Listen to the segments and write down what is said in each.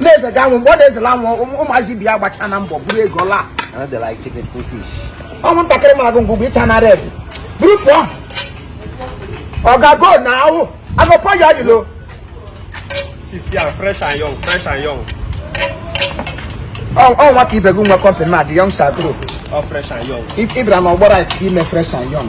na-eze ga anwụ mgbe ọ na-ezela anwụ ụmụ- ụmụazị bi ya gbacha na mbọ buru ego laa And they like chicken cool fish. ọnwụ ntakịrị mara gị ngwugwu ịcha na red buru pụọ ọ ga-ago na ahụ agụpọ ya ọdịlo Chief, yeah, fresh and young, fresh and young. ọ nwa ka ibe gị nwe company na adị young shakro All fresh and young. ị bịara n'ọgbọ rice ka ime fresh and young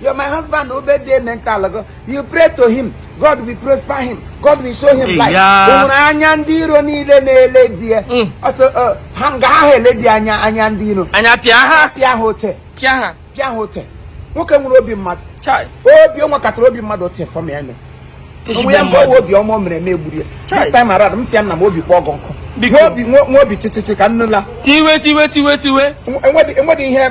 You're my husband, obey the mental go. You pray to him. God will prosper him. God will show him light. Ụmụrụ anya ndị iro niile na-ele di ya. Mm. Ọsọ uh, ha nga ha ele di anya anya ndị iro. Anya pịa ha. Pịa ha ote. Pịa ha. Pịa ha ote. Nwoke nwere obi mmadụ. Obi o nwekatara obi mmadụ ote fọm ya nọ. Onwe ya mgbe ọwa obi ọma o mere eme egburu ya. This time around m sị ya nna m obi kpọọ gị nkụ. Nwee obi nwee obi chịchịchị ka nnụla. Tiwe tiwe tiwe tiwe. Enwedị ihe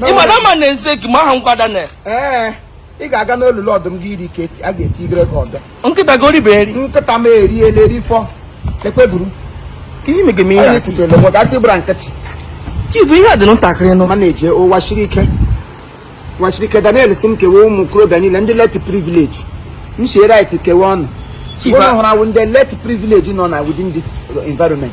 ị ma na ama na eze gị ma aha ngwa Daniel ee ị ga-aga n'olulu ọdụm gị iri ka a ga-etigere gị ọdọ nkịta gị eribe nri nkịta m eriela erifọ ekpeburu ka ihe mege m ihe anyị a kwutere nwe ka asị gbara nkịtị chifu ihe a dị ntakịrị nụ ma na-eje ụwa siri ike ụwa siri ike Daniel sị m kewe ụmụ okorobịa niile ndị less privilege m sie rice kewe ụnụ Chief, ụlọ a- hụrụ awụ ndị less privilege nọ na within this environment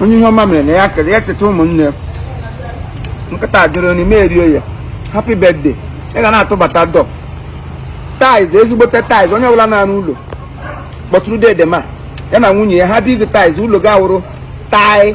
onye ihe ọma mere na ya kere ya cheta ụmụnne nkata adịrọ n'ime erie ya happy birthday ị ga na-atụbata door tiles ezigbote tiles onye ọbụla na-arụ ụlọ kpọtụrụ dede m a ya na nwunye ya ha big tiles ụlọ ga-awụrụ tile